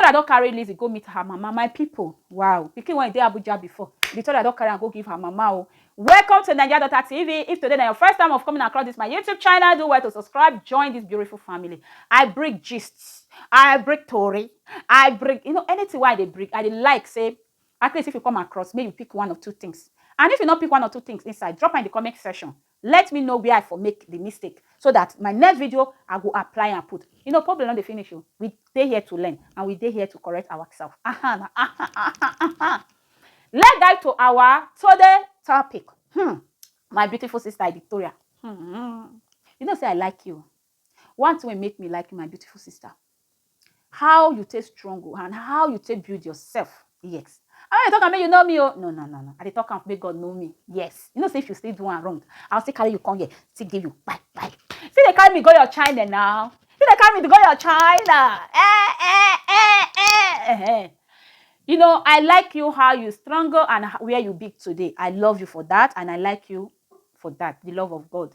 Victoria don carry Lizzy go meet her mama my people wow pikin when e dey Abuja before Victoria don carry am go give her mama o. Welcome to Naija Daughter TV if today na your first time of coming across this my YouTube channel do well to subscribe join this beautiful family I bring gist I bring tori I bring you know anything wey I dey bring I dey like say at least if you come across make you pick one or two things and if you no pick one or two things inside drop am in the comment section Let me know where I for make the mistake so that my next video I go apply and put. You know problem no dey finish o. We dey here to learn and we dey here to correct ourselves. Aha na aha aha aha. Let's dive to our today topic. Hmm. My beautiful sister Victoria. Hmm. You know say I like you. One thing wey make me like you my beautiful sister. How you take strong o and how you take build yourself? Yes. I no dey talk am make you know me o. No, no, no, no. I dey talk am make God know me. Yes. You know say if you still do am wrong, I will still carry you come here, still give you kpai kpai. Still dey carry me go your China now. Still dey carry me go your China. Eh, eh, eh, eh, eh, eh. You know, I like you how you struggle and where you be today. I love you for that and I like you for that, the love of God.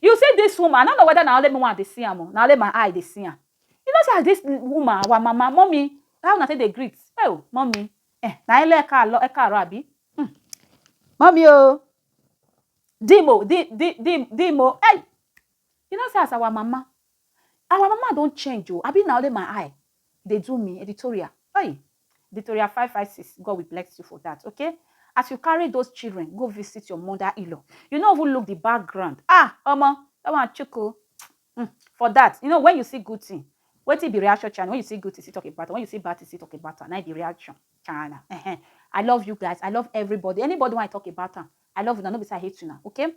You see this woman, I no know whether na only me wan dey see am o, na only my eye dey see am. You know say as this woman, our mama, mummy, how una take dey greet? Oh, mummy, eh, na hello ekaalo, ekaaro abi? Hmm. Mummy o, dim o, dim, dim, dim, dim o, hey! You know say as our mama, our mama don change o, abi na only my eye? dey do me editorial hey editorial five five six God will bless you for that okay as you carry those children go visit your mother in-law you no even look the background ah omo that one chuku mm, for that you know when you see good thing wetin be reaction channel when you see good thing see talk about am when you see bad thing see talk about am na be reaction channel uh-huh. i love you guys i love everybody anybody when i talk about am i love una no be say i hate una okay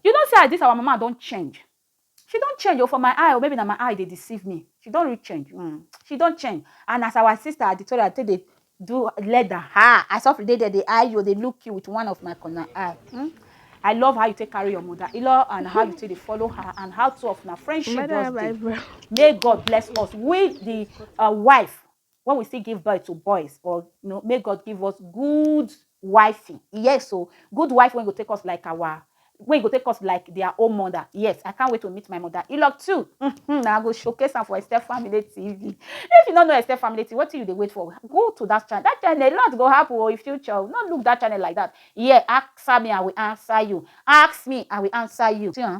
you know say as this our mama don change She don change o for my eye o maybe na my eye dey deceive me she don really change um she don change and as our sister Aditoria take dey do leather um I sofri dey there dey eye you dey look you with one of my corner eye um I love how you take carry your mother Ilo and how you take dey follow her and how two of una friendship just dey may God bless us we the uh wife when we still give birth to boys or you know make god give us good wifey yes so good wife when go take us like our when go take us like their own mother yes i can't wait to meet my mother you love too mm-hmm. now i go showcase am for esther family tv if you don't know esther family tv what do you they wait for go to that channel that channel a lot go happen oh, in future oh. not look that channel like that yeah ask me i will answer you ask me i will answer you see, huh?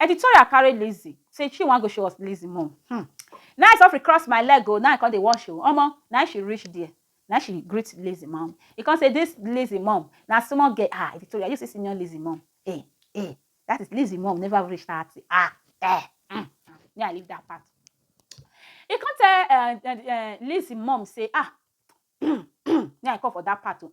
Editorial carry Lizzy say she wan go show us Lizzy mum. Hmm. Now I suffer cross my leg oh, now I come dey wash oh. Omo, now she reach there. Now she greet Lizzy mom. He come say, this Lizzy mom, now small girl. Ah, Editorial, you see senior Lizzy mom. Eh, eh, that is Lizzy mom never reach 30. Ah, eh, mm. Yeah, I leave that part. He come tell uh, uh, uh, Lizzy mom say, ah, yeah, I come for that part too.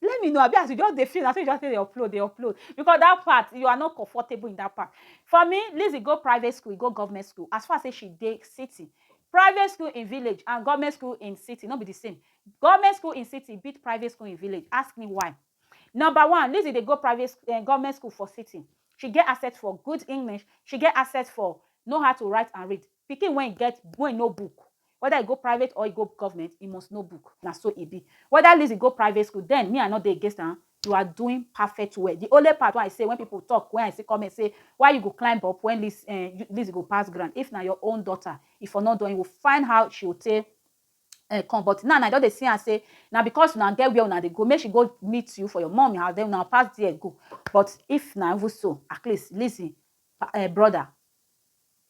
Let me know abi as you just dey feel na so you just dey upload dey upload because that part you are not comfortable in that part. For me Lizzy go private school e go government school as far as say she dey city private school in village and government school in city no be the same government school in city beat private school in village ask me why number one Lizzy dey go private school um government school for city she get access for good English she get access for know how to write and read Pikin wey get wey know book weda e go private or e go government e must know book na so e be weda Lizzy go private school den me I no dey against am you are doing perfect well the only part wey I say when people talk wey I see comment say why you go climb up when Liz um Lizzy go pass ground if na your own daughter e for no done you will find how she will take um come but now I don dey see am say na because una get where una dey go make she go meet you for your mummy house den una pass there go but if na even so at least Lizzy um brother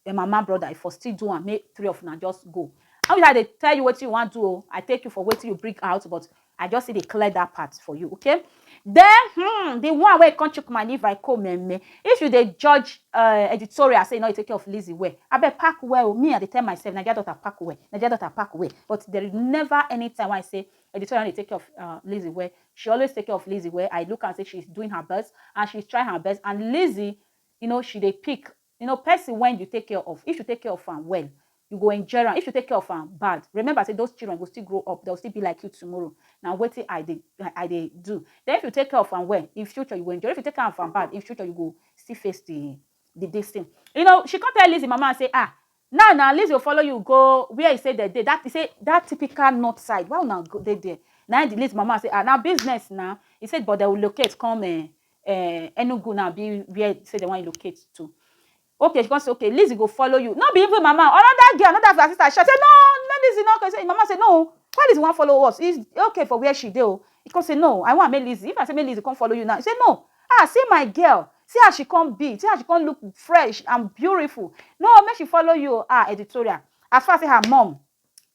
Then mama brother if for still do am make three of una just go. How you I dey tell you wetin you wan do o. Oh? I take you for wetin you bring out but I just still dey clear that part for you okay. Then hmm, the one wey come chook my liver I come meme. If you dey judge uh, editorial say you no dey take care of Lizzy well, abeg pack well o. Oh. Me I dey tell myself Naija daughter pack well, Naija daughter pack well but there is never any time when I say editorial dey take care of uh, Lizzy well. She always take care of Lizzy well. I look and say she's doing her best and she's trying her best and Lizzy you know she dey pick You know person wen you take care of, if you take care of am well, you go enjoy am, if you take care of am bad, remember say those children go still grow up, dem go still be like you tomorrow, na wetin I dey I dey do. Den if you take care of am well, in future you go enjoy, if you take care of am bad, in future you go still face di di dis tin. You know she come tell Lizzy mama say, ah, Now na Lizzy go follow you go where e say dem dey that e say that typical north side why una go dey there na the Lizzy mama say ah na business na e say but dem will locate come eh, eh, Enugu na abi where say dem wan locate to okay she come say okay Lizzy go follow you no be even mama another girl another of her sister shout say no no Lizzy no okay say mama say no why Lizzy wan follow us e okay for where she dey o e come say no I wan make Lizzy if I say make Lizzy come follow you now e say no Ah see my girl see as she come be see as she come look fresh and beautiful no make she follow you o ah editorial as far say her mom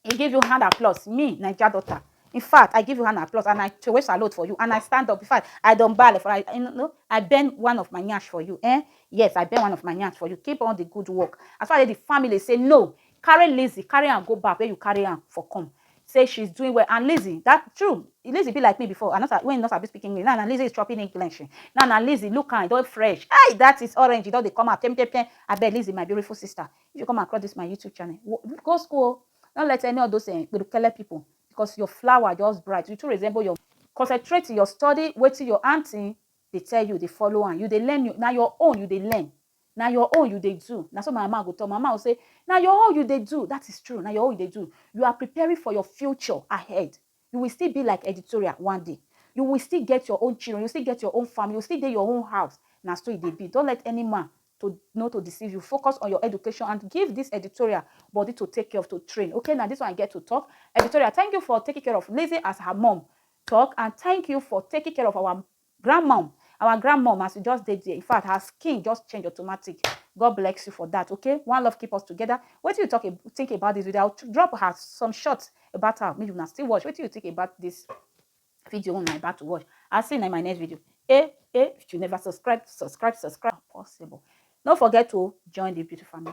e give you hand applause me naija daughter in fact I give you hand applause and I throway salute for you and I stand up in fact I don bale for I you know I bend one of my nyash for you eh yes I bend one of my nyash for you keep on the good work as far as the family say no carry Lizzy carry am go back where you carry am for come say she's doing well and Lizzie that true Lizzie be like me before I not when you not sabi speak English now na Lizzie is chopping English now na Lizzie look am don fresh hey that is orange e don dey come out pem pem pem abeg Lizzie my beautiful sister if you come across this my YouTube channel go school don't let any of those uh, eh, people because your flower just bright you too resemble your concentrate your study wetin your auntie dey tell you dey follow am you dey learn you na your own you dey learn Na your own you dey do. Na so my mama go talk. My mama go say, Na your own you dey do. That is true. Na your own you dey do. You are preparing for your future ahead. You will still be like editorial one day. You will still get your own children. You still get your own family. You still dey your own house. Na so e dey be. Don't let any man to know to deceive you. Focus on your education and give this editorial body to take care of, to train. Okay, now this one I get to talk. Editorial, thank you for taking care of Lizzie as her mom talk and thank you for taking care of our Grand mom our grand mom as you just dey there in fact her skin just change automatic God bless you for that okay one love keep us together wetin you talk ab- think about this video I will drop her some shots about her make una still watch wetin you think about this video una about to watch I see you in my next video eh eh if you never subscribe subscribe subscribe possible no forget to join the beauty family.